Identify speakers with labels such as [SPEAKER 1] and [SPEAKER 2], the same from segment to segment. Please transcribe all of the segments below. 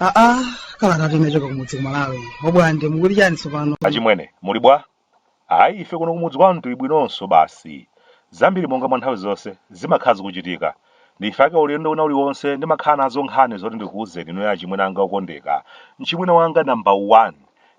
[SPEAKER 1] aa kalata imene yachoka kumudzi ku Malawi obwande mukuti chani tsopano achimwene muli bwa
[SPEAKER 2] Ayi, ife kuno kumudzi kwanu tili bwinonso basi. Zambiri monga mwa nthawi zonse, zimakhala zikuchitika. Nchifukwa chake ulendo wina uliwonse ndimakhala nazo nkhani zoti ndikuuzeni inuyo achimwene anga okondeka. Mchimwene wanga namba 1,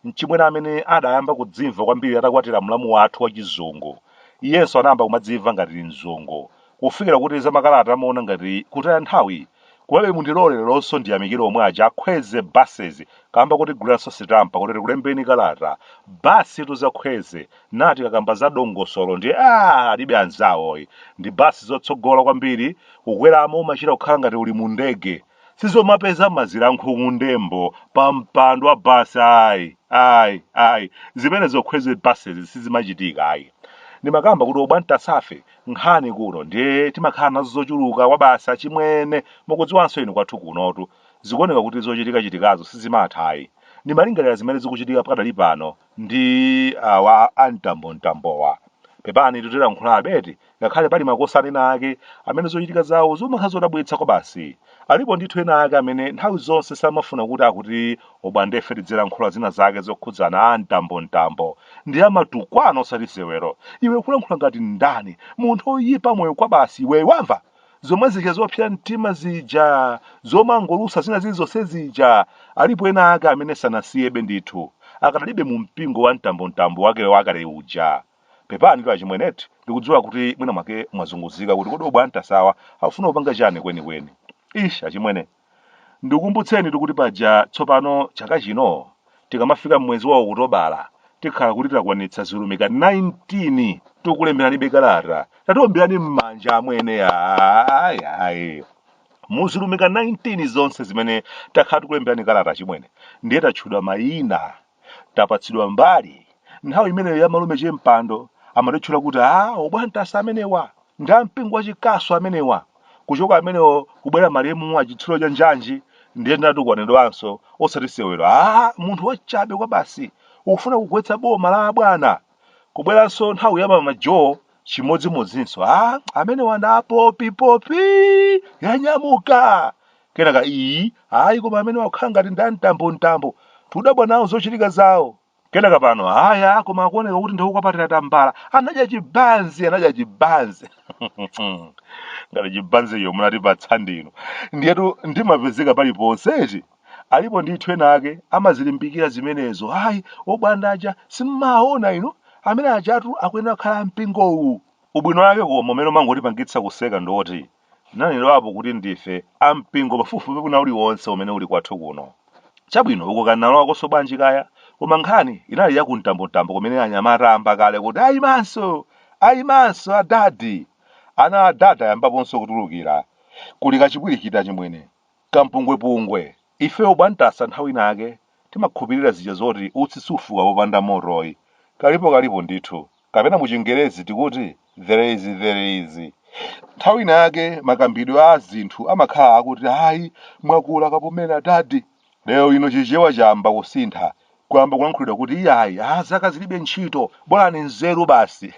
[SPEAKER 2] mchimwene amene adayamba kudzimva kwambiri atakwatira mlamu wathu wachizungu. Iyenso anayamba kumadzimva ngati mzungu. Kufikira kuti za makalata amaona ngati kutaya nthawi Komabe mundilole leronso ndiyamikire omwe aja a Kwezy buses kamba kotiguliranso sitampa kuti tikulembeni kalata. Basitu za Kwezy nde tikakamba za dongosolo ndiye aah alibe anzawo ayi. Ndi basi zotsogola kwambiri kukweramo umachita kukhala ngati uli mu ndege. Sizomapeza mazira ankhuku mphemvu pa mpando wa basi ayi ayi ayi zimenezo ku Kwezy buses sizimachitika ayi. Ndimakamba kuti Obwandasafe nkhani kuno ndiye timakhala nazo zochuluka kwabasi achimwene mukudziwanso inu kwathu kunotu zikuoneka kuti zochitika chitikazo sizimatha ayi ndimalingalira zimene zikuchitika pakadali pano ndi awa amtambo mtambowa pepani titero kulankhula abeti ngakhale pali makosana ena ake amene zochitika zawo zimakhala zodabwitsa kwabasi Alipo ndithu ena ake amene nthawi zonse samafuna kuti akuti obwandefe tidzilankhula zina zake zokhudzana a mtambo mtambo. Nde amatukwana osati sewero. Iwe ukulankhula ngati ndani? Munthu oyipa moyo kwabasi iweyo wamva? Zomwe zija zopsa mtima zija, zomangolusa zina zilizonse zija. Alipo ena ake amene sanasiyebe ndithu. Akadalibe mu mpingo wa mtambo mtambo wake wakale uja. Pepanitu achimwenetu, ndikudziwa kuti mwina mwake mwazunguzika kuti kodi Obwandasawa akufuna kupanga chani kwenikweni. Ish achimwene, ndikukumbutsenitu kuti paja tsopano chaka chino tikamafika mmwezi wa Okutobala tikhala kuti takwanitsa zilumika 19 tikukulemberanibe kalata. Tatiomberani mmanja amwene ayi ayi. Muzilumika 19 zonse zimene takhala tikulemberani kalata achimwene ndiye tatchulidwa mayina tapatsidwa mbali nthawi imeneyo ya malume che Mpando amatitchula kuti a obwandasa amenewa ndi ampingo wachikasu amenewa kuchoka amenewo kubwera malemu a chitsulo cha njanji ndiye ndinatukwanidwanso osati sewero a munthu wachabe kwa basi ukufuna kugwetsa boma la abwana kubweranso nthawi ya mama Joyce chimodzimodzinso a amenewa ndi a popipopi yanyamuka kenaka iyi ayi koma amene wakhala ngati ndi amtambo mtambo tidabwa nawo zochitika zawo kenaka pano aya koma akuoneka kuti ndi wokwapatira tambala anadya chibanzi anadya chibanzi ngati chibanziyo munatipatsa ndinu ndiyetu ndimapezeka paliponse eti alipo ndithu ena ake amazilimbikira zimenezo ayi obwande aja simmaona inu amene ajatu akuyenera kukhala mpingowu ubwino wake koma umene umangotipangitsa kuseka ndiwoti nanenerapo kuti ndife a mpingo pafupifupi wina uliwonse umene uli kwathu kuno. Chabwino, uko kanalowakonso bwanji kaya? Koma nkhani inali ya kumtambo mtambo kumene anyamata ayamba kale kuti ayimanso, ayimanso adadi. Ana a dadi ayambaponso kutulukira. Kuli kachipwirikiti achimwene, kampungwepungwe, Ife obwantasa nthawi ina yake timakhupirira zija zoti utsi sufuka popanda motoyi. Kalipo kalipo ndithu. Kapena mu chingerezi tikuti there is there is. Nthawi ina yake makambidwe a zinthu amakhala akuti ayi mwakula kapumeni adadi. Lero lino chichewa chayamba kusintha kuyamba kulankhulidwa kuti iyayi a zaka zilibe ntchito bolani nzeru basi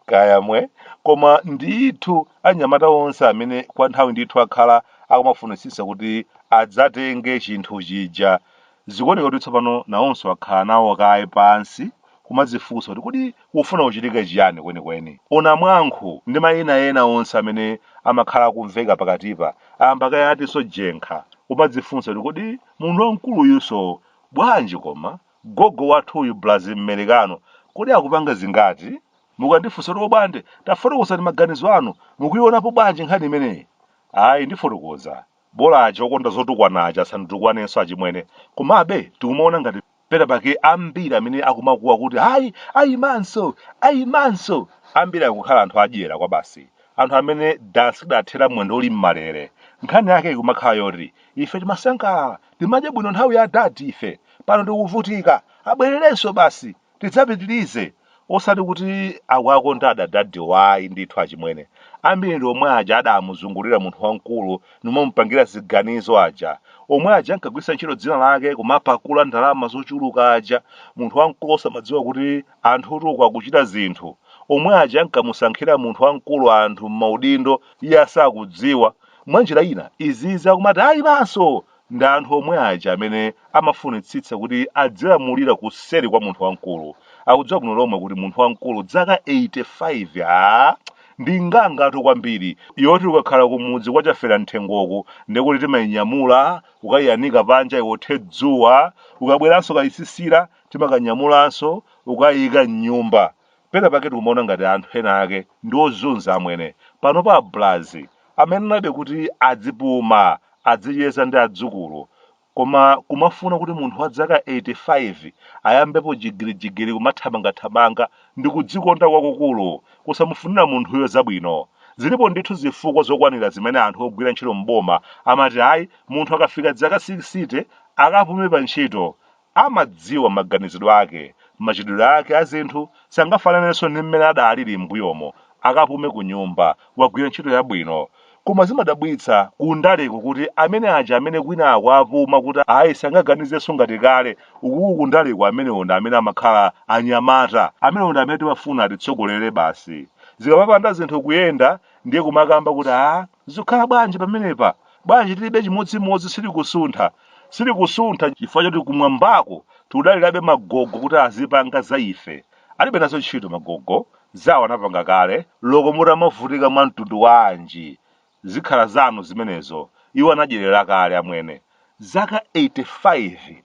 [SPEAKER 2] kaya mwe koma ndithu anyamata onse amene kwa nthawi ndithu akhala akumafunitsitsa kuti adzatenge chinthu chija zikuoneka kuti tsopano nawonso akhala nawo kaye pansi kumadzifunsa kuti kodi kufuna kuchitika chiyani kwenikweni o namwankhu ndi mayina ena onse amene amakhala akumveka pakatipa ayamba kaye atinso jenkha kumadzifunsa kuti kodi Munthu wamkuluyunso bwanji koma gogo wathuyu braz mmerekano kodi akupanga zingati? mukandifunsa kuti obwande tafotokozani maganizo anu mukuionapo bwanji nkhani imeneyi ayi ndifotokoza bola aja okonda zotukwana aja asanditukwanenso achimwene komabe tikumaona ngati pena pake ambiri amene akumakuwa kuti ayi ayimanso ayimanso ambiri akukhala anthu adyera kwabasi anthu amene dansi idathera mwendo uli m'malere nkhani yake ikumakhala yoti ife timasangalala timadya bwino nthawi ya dadi ife pano tikuvutika abwererenso basi tidzapitirize osati kuti akuwakonda adadadi wayi ndithu achimwene ambiri ndi omwe aja adamuzungulira munthu wamkulu nimamupangira ziganizo aja omwe aja ankagwiritsa ntchito dzina lake kumapakula ndalama zochuluka aja munthu wamkulu osamadziwa kuti anthutu uku akuchita zinthu omwe aja ankamusankhira munthu wamkulu anthu m'maudindo iye asakudziwa mwanjira ina izizi akumati ayimanso Ndi anthu omwe aja amene amafunitsitsa kuti adzilamulira kuseri kwa munthu wamkulu. Akudziwa bwino lomwe kuti munthu wamkulu dzaka 85 aah ndi ngangatu kwambiri yoti ukakhala kumudzi kwa Chaferam'thengoku ndekuti timainyamula kukaiyanika panja iwothe dzuwa ukabweranso kachisisira timakanyamulanso kukaiika m'nyumba. Pena pake tikumaona ngati anthu ena ake ndi ozunza amwene. Panopa a Bwlazi amayenerabe kuti azipuma, azicheza ndi adzukulu. Koma kumafuna kuti munthu wa dzaka 85 ayambepo jigirijigiri kumathamangathamanga ndi kudzikonda kwakukulu kusamufunira munthuyo zabwino. Zilipo ndithu zifukwa zokwanira zimene anthu ogwira ntchito m'boma amati ayi munthu akafika dzaka 60 akapume pantchito Amadziwa maganizidwe ake, machitidwe ake a zinthu sangafananenso ndi mmene adalili m'mbuyomo, akapume kunyumba, wagwira ntchito yabwino. Koma zimadabwitsa kundaleku kuti amene aja amene kwinaku apuma kuti ayi sangaganizenso ngati kale, ukuku kundaleku amenewo ndi amene amakhala anyamata. Amenewo ndi amene timafuna atitsogolere basi. Zikamapanda zinthu kuyenda ndiye kumakamba kuti ah, zikukhala bwanji pamenepa? Bwanji tilibe chimodzimodzi silikusuntha? Silikusuntha chifukwa choti kumwambako tikudalirabe magogo kuti azipanga za ife. Alibe nazo ntchito magogo, zawo anapanga kale, loko mutamavutika mwa mtundu wanji, zikhala zanu zimenezo, iwo anadyerera kale amwene. Zaka 85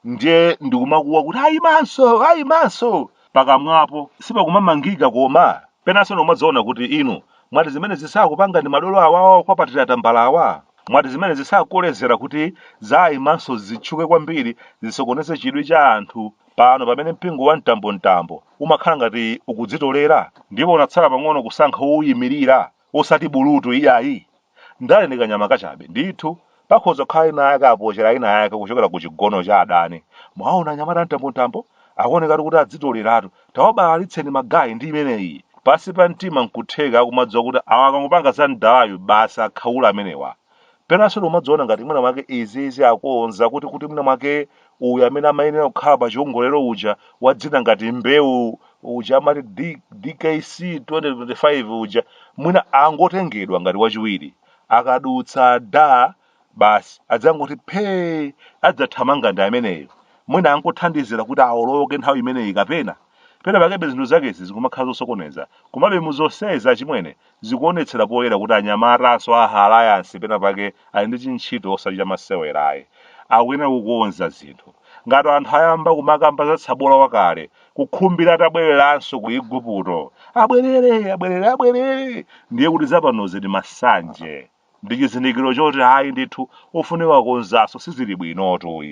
[SPEAKER 2] ndiye ndikumakuwa kuti aimanso, aimanso! Pakamwapo sipakumamangika koma? Penanso umadzaona kuti inu mwati zimenezi sakupanga ndi madolo awa akwa Patira tambala awa? Mwati zimenezi sakukolezera kuti zaimanso zitchuke kwambiri zisokoneze chidwi cha anthu pano pamene mpingo wa mtambomtambo umakhala ngati ukudzitolera ndipo unatsala pang'ono kusankha wouimirira osati bulutu iyayi? Ndale ndi kanyama kachabe. Ndithu, pakhoza kukhala inayake apochera inayake kuchokera ku chigono cha adani. Mwaona anyamata a mtambontambo? Akuonekatu kuti adzitoleratu. Tawabalalitseni ma guy ndi imeneyi. Pansi pa mtima n'kutheka akumadziwa kuti awa akangopanga za mdalayu basi akhaula amenewa. Penanso umadzaona ngati mwina mwake izizi akonza kuti kuti mwina mwake uyu amene amayenera kukhala pa chiongolero uja wa dzina ngati mbewu uja amati DKC 2025 uja mwina angotengedwa ngati wachiwiri akadutsa da basi adzangoti phee adzathamanga ndi ameneyo mwina angothandizira kuti awoloke nthawi imeneyi kapena pena pakebe zinthu zakezi zikumakhala zosokoneza komabe mu zonsezi achimwene Zikuonetsera poyera kuti anyamatanso a Alliance pena pake ali ndi chintchito osati chamasewera ayi. Akuyenera kukonza zinthu. Ngati anthu ayamba kumakamba za tsabola wakale, kukhumbira atabwereranso ku Iguputo, abwerere, abwerere, abwerere! Ndiye kuti zapanozi ndi masanje. Ndi chizindikiro choti ayi ndithu ofunika kukonzanso sizili bwinotu.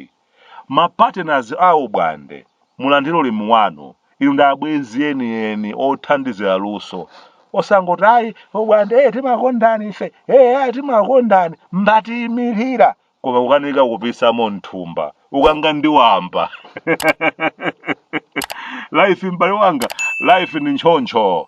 [SPEAKER 2] ma partners a Ubwande, mulandire ulemu wanu, inu ndi abwenzi eni eni othandizira luso, osangoti ayi Ubwande ee timakondani ife, eya timakondani, mbatiyimirira, koma kukanika kupisamo m'nthumba, ukanga ndi wamba. Life m'bale wanga, life ndi ntchontcho.